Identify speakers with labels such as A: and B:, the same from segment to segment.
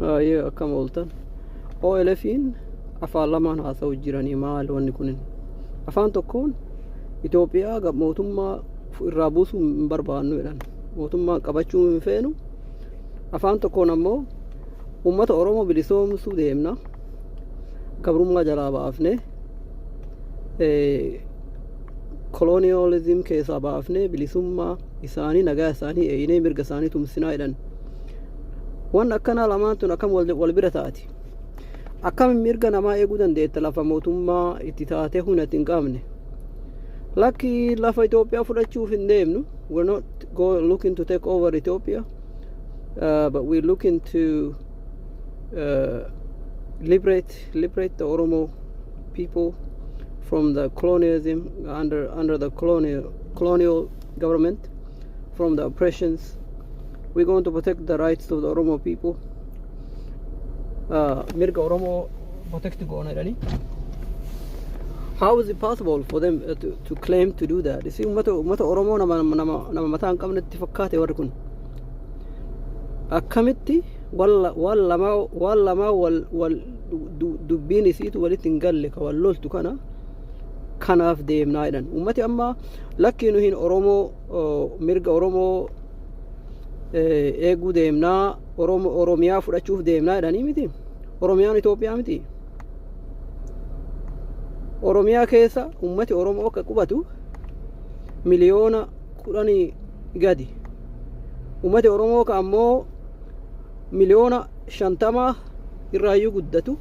A: Aayee akkam ooltan. OLFiin afaan lamaan haasa'u jiranii maal wanni kunin. Afaan tokkoon Itoophiyaa gab mootummaa irraa buusuu hin barbaannu jedhan. Mootummaa qabachuu hin feenu. Afaan tokkoon ammoo uummata Oromoo bilisoomsuu deemna. Gabrummaa jalaa baafnee koloniyaalizim keessaa baafnee bilisummaa isaanii nagaa isaanii eeynee mirga isaanii tumsinaa jedhan. Waan akkanaa lamaan tun akkam wal wal bira taati. Akkam mirga namaa eeguu dandeetta lafa mootummaa itti taatee humna itti hin qabne. Lakki lafa Itoophiyaa fudhachuuf hin deemnu. We're not go looking to take over Ethiopia, uh, but we're looking to uh, liberate liberate the Oromo people from the colonialism under under the colonial colonial government. from the oppressions. We're going to protect the rights of the Oromo people. Uh, Mirga Oromo protect Gonairani. How is it possible for them uh, to, to claim to do that? You see, ummata ummata Oromo nama nama nama mataa hin qabnetti fakkaate warri kun. Akkamitti walla waan lamaa waan lamaa wal wal du- dubbiin isiitu walitti hin galle ka wal loltu kana kanaaf deemnaa jedhan uummati amma lakkii nu hin oromoo mirga oromoo eeguu deemnaa oromiyaa fudhachuuf deemnaa jedhanii miti oromiyaan itoophiyaa miti oromiyaa keessa uummati oromoo akka qubatu miliyoona kudhanii gadi uummati oromoo ka ammoo miliyoona shantamaa irraayyuu guddatu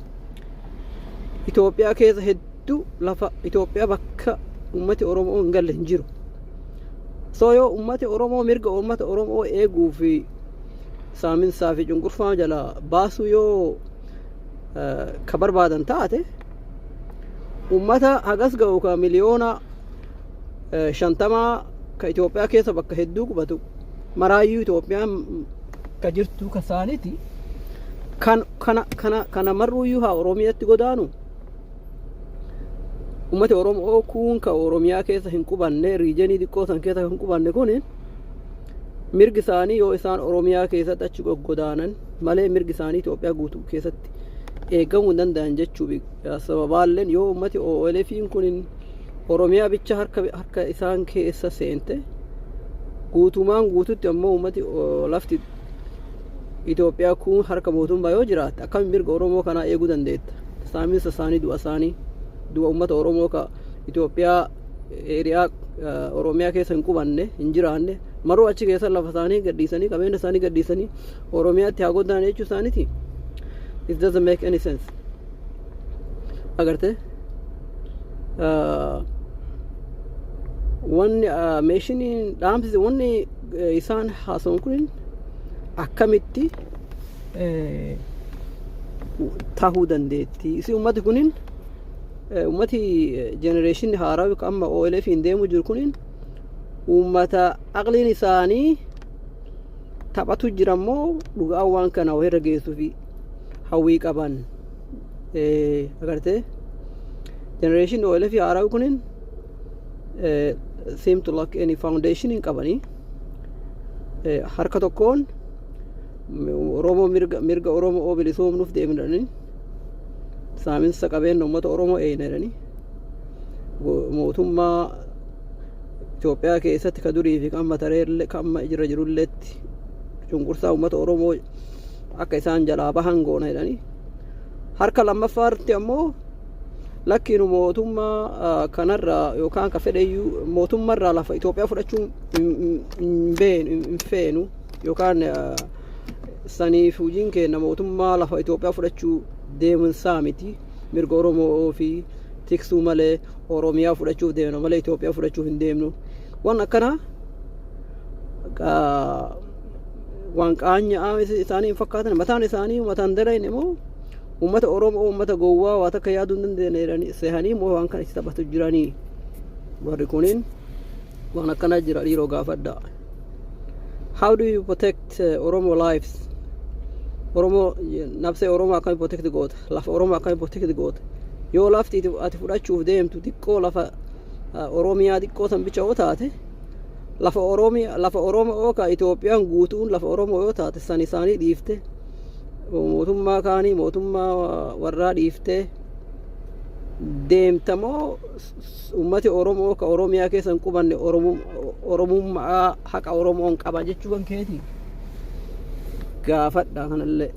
A: Itoophiyaa keessa hedduu lafa Itoophiyaa bakka uummati Oromoo hin galle hin jiru. Soo yoo uummati Oromoo mirga uummata Oromoo eeguu fi saaminsaa fi cunqurfaa jala baasuu yoo ka barbaadan taate uummata hagas ga'u ka miliyoona eh, shantamaa ka Itoophiyaa keessa bakka hedduu qubatu maraayyuu Itoophiyaan ka jirtu ka saaniti kan kana kana kana marruuyyuu haa Oromiyaatti godaanu ummati Oromoo kuun ka Oromiyaa keessa hin qubanne riijenii xiqqoo san keessa hin qubanne kun mirgi isaanii yoo isaan Oromiyaa keessatti achi goggodaanan malee mirgi isaanii Itoophiyaa guutuu keessatti eegamuu hin danda'an jechuu sababaalleen yoo ummati OLFiin kun Oromiyaa bicha harka harka isaan keessa seente guutumaan guututti ammoo uummati o- lafti Itoophiyaa kun harka mootummaa yoo jiraatte akkamiin mirga Oromoo kanaa eeguu dandeetta? Saaminsa isaanii, du'a isaanii, du'a uummata Oromoo ka Itoophiyaa eeriyaa eh, Oromiyaa keessa hin qubanne, hin jiraanne, maruu achi keessa lafa isaanii gadhiisanii, qabeenya isaanii gadhiisanii Oromiyaatti haa goddaan jechuu isaaniiti. It doesn't make any sense. Agartee? wanni meeshiniin dhaamsi wanni isaan haasa'an kun akkamitti tahuu dandeetti isi ummati kunin ummati jenereeshinni haaraa yookaan amma OLF hin deemu jiru kunin ummata aqliin isaanii taphatu jira immoo dhugaa waan kana wayirra geessuufi hawwii qaban agartee generation OLF haarawi kunin seem to lack any foundation hin qabanii harka tokkoon Oromoo mirga mirga Oromoo bilisoomnuuf deemnanii saaminsa qabeenya uummata Oromoo eeynanii mootummaa Itoophiyaa keessatti ka durii fi kan matareellee kan amma jira jirulleetti cunqursaa uummata Oromoo akka isaan jalaa bahan goona jedhanii harka lammaffaarratti ammoo lakkiinu mootummaa ah, kanarraa yookaan akka fedheyyuu mootummarraa lafa Itoophiyaa fudhachuu hin hin beenu hin feenu yookaan ah, saniif hojiin keenya mootummaa lafa Itoophiyaa fudhachuu deemuun isaa miti mirga Oromoo fi tiksuu malee Oromiyaa fudhachuuf deemna malee Itoophiyaa fudhachuuf hin deemnu waan akkanaa ah, waan qaanya'aa isaanii hin fakkaatan mataan isaanii mataan dalayin immoo uummata oromoo uummata gowwaa waa takka yaaduu hin dandeenye jedhanii sehanii immoo waan kana itti taphatu jiranii warri kuniin waan akkana jira dhiiroo gaafadha how do you protect uh, oromo lives oromo nabsee oromo akkami protect goota lafa oromo akkami protect goota yoo lafti ati fudhachuuf deemtu xiqqoo lafa uh, oromiyaa xiqqoo san bicha yoo taate lafa Oromiyaa lafa Oromoo ka Itoophiyaan guutuun lafa Oromoo yoo taate san isaanii dhiifte mootummaa kaanii mootummaa warraa dhiiftee deemta moo uummati Oromoo ka Oromiyaa keessa hin qubanne Oromummaa haqa Oromoon qaba jechuu kan keeti gaafadha kanallee.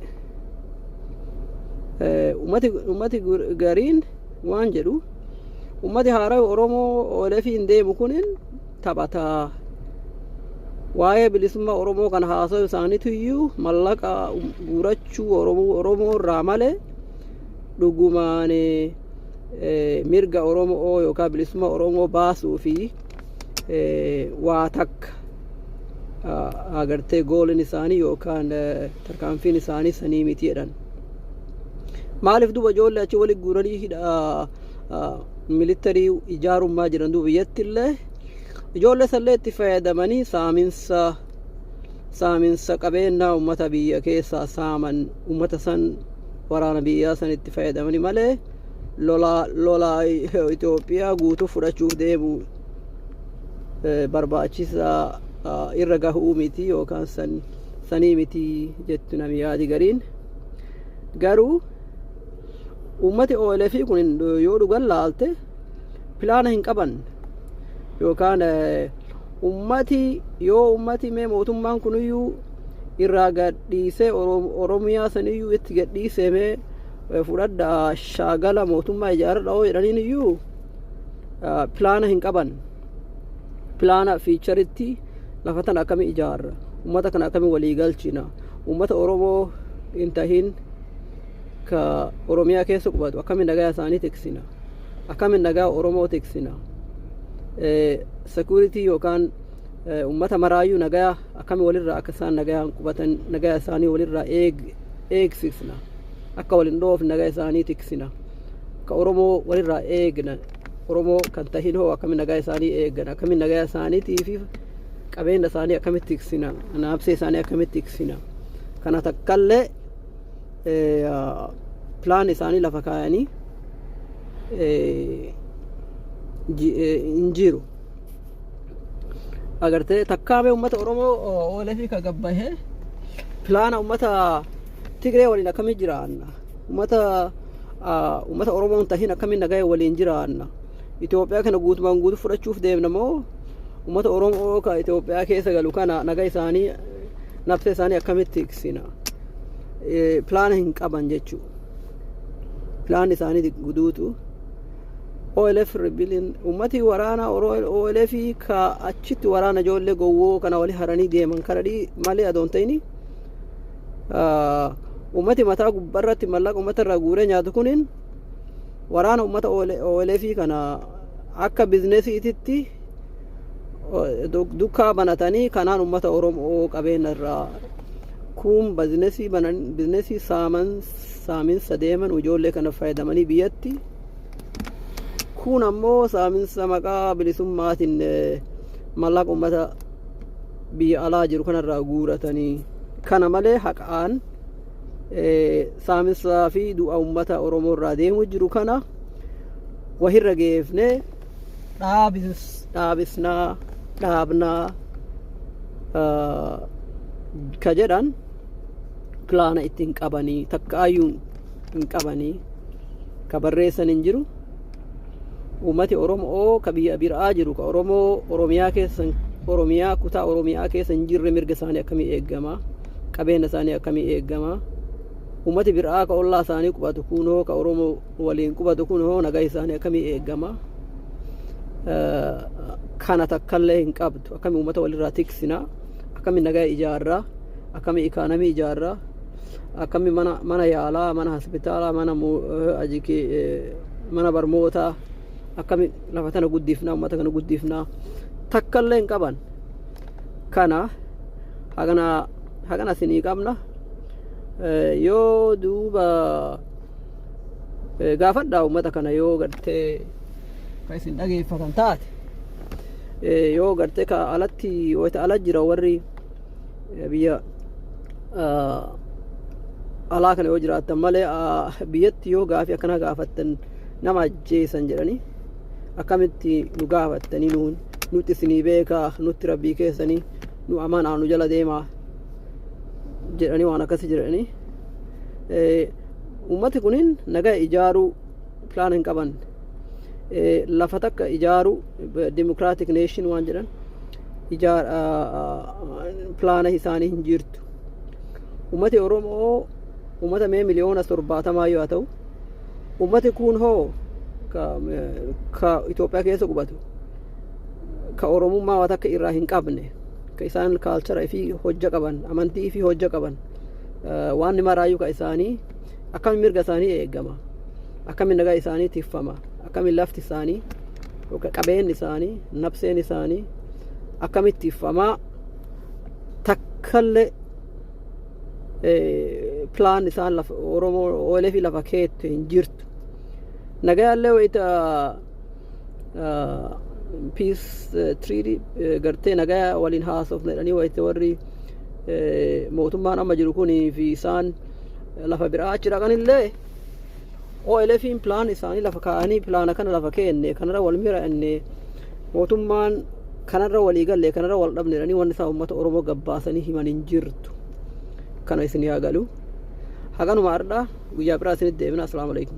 A: Uummati gariin waan jedhu uummati haaraa Oromoo oolefii hin deemu kunin taphataa waa'ee bilisummaa Oromoo kan haasa'u isaaniitu iyyuu mallaqa guurachuu Oromoo irraa malee dhugumaan mirga Oromoo yookaan bilisummaa Oromoo baasuu fi waa takka agartee gooliin isaanii yookaan tarkaanfiin isaanii sanii miti jedhan. Maaliif duba ijoollee achi waliin guuranii hidha militarii ijaarummaa jiran duuba biyyatti illee ijoollee sallee itti fayyadamanii saaminsa saaminsa qabeenyaa uummata biyya keessaa saaman uummata san waraana biyyaa san itti fayyadamanii malee lolaa lolaa Itoophiyaa guutuu fudhachuuf deemu barbaachisaa irra gahuu miti yookaan san sanii miti jettu namni yaadi gariin garuu Uummati OLF kun yoo dhugan laalte pilaana hin qaban yookaan uummati yoo uummati mee mootummaan kuniyyuu irraa gadhiisee Oromiyaa saniyyuu itti gadhiisee mee fudhadha shaagala mootummaa ijaaradha yoo jedhaniin iyyuu pilaana hin qaban. Pilaana fiicharitti lafa tana akkamii ijaarra uummata kana akkamii walii galchina uummata Oromoo hin tahin ka Oromiyaa keessa qubatu akkamiin nagaa isaanii tiksina akkamiin nagaa Oromoo tiksina security yookaan uummata maraayyuu nagaa akkamiin walirraa akka isaan nagaa qubatan nagaa isaanii walirraa eegsisna akka waliin dhoofne nagaa isaanii tiksina ka Oromoo walirraa eegna Oromoo kan tahin hoo akkamiin nagaa isaanii eegan akkamiin nagaa isaaniitii fi qabeenya isaanii akkamitti tiksina naabsee isaanii akkamitti tiksina kana takkallee pilaan isaanii lafa kaayanii hin jiru. Agartee takkaamee uummata Oromoo OLF ka gabbahee pilaana uummata Tigree waliin akkamii jiraanna. Uummata uummata Oromoon tahin akkamiin nagaya waliin jiraanna. Itoophiyaa kana guutumaan guutuu fudhachuuf deemna moo uummata Oromoo ka Itoophiyaa keessa galu kana naga isaanii nafsee isaanii akkamitti tiksina. pilaana hin qaban jechuu pilaan isaanii guduutu OLF rebellion ummati waraana OLF ka achitti waraana ijoollee gowwoo kana wali haranii deeman kana dhii malee adoon ta'ini ummati mataa gubbarratti mallaqa ummata irraa guuree nyaatu kuniin waraana ummata OLF kana akka bizinesiititti dukkaa banatanii kanaan ummata Oromoo qabeenya irraa kuun bizinesii banan bizinesii saaman saaminsa deeman ijoollee kana fayyadamanii biyyatti kuun ammoo saaminsa maqaa bilisummaatiin mallaqa ummata biyya alaa jiru kanarraa guuratanii kana malee haqaan saaminsaa fi du'a ummata Oromoo irraa deemu jiru kana wahirra geefnee dhaabis dhaabisnaa dhaabnaa ah, ka jedhan pilaana itti hin qabanii takka ayyuu hin qabanii ka barreessan hin jiru uummati oromoo ka biyya biraa jiru ka oromoo oromiyaa keessa oromiyaa kutaa oromiyaa keessa hin jirre mirga isaanii akkamii eegama qabeenya isaanii akkamii eegama uummati biraa ka ollaa isaanii qubatu kunoo ka oromoo waliin qubatu kun hoo nagaa isaanii akkamii eegama kana takkallee hin qabdu akkamii uummata walirraa tiksina akkamii nagaa ijaarraa akkamii ikaanamii ijaarraa akkamii mana mana yaalaa mana hospitaalaa mana ajiki mana barmootaa akkamii lafa tana guddifnaa uummata kana guddifnaa takkallee hin qaban kana hagana hagana sinii qabna yoo duuba gaafadhaa uummata kana yoo gartee kan isin dhageeffatan taate yoo gartee ka alatti wayita ala jira warri biyya alaa kana yoo jiraattan malee biyyatti yoo gaafii akkana gaafattan nama ajjeesan jedhanii akkamitti nu gaafattanii nuun nutti isinii beekaa nutti rabbii keessanii nu amanaa nu jala deemaa jedhanii waan akkasii jedhanii uummati kunin nagaa ijaaruu pilaan hin qaban lafa takka ijaaruu dimokiraatik neeshin waan jedhan ijaar pilaana isaanii hin jirtu uummati oromoo uummata mee miliyoona torbaatamaa yoo ta'u uummati kun hoo ka Itoophiyaa keessa qubatu ka oromummaa waan takka irraa hin qabne ka isaan kaalchara fi hojja qaban amantii fi hojja qaban waan maraayyuu ka isaanii akkamiin mirga isaanii eegama akkamiin nagaa isaanii tiffama akkamiin lafti isaanii yookaan qabeenyi isaanii nabseen isaanii akkamitti tiffamaa takkallee pilaan isaan lafa oromoo oolee fi lafa keetti hin jirtu nagayaallee wayita piis tiriidii gartee nagayaa waliin haasofna jedhanii wayite warri mootummaan amma jiru kunii fi isaan lafa biraa achi dhaqanillee OLFiin pilaan isaanii lafa kaa'anii pilaana kana lafa keenne kanarra wal mira'anne mootummaan kanarra walii galle kanarra wal dhabne jedhanii wanni isaa uummata Oromoo gabbaasanii himan hin jirtu kana isin yaa galu haganuma har'aa guyyaa biraa isinitti deebina asalaamu alaikum.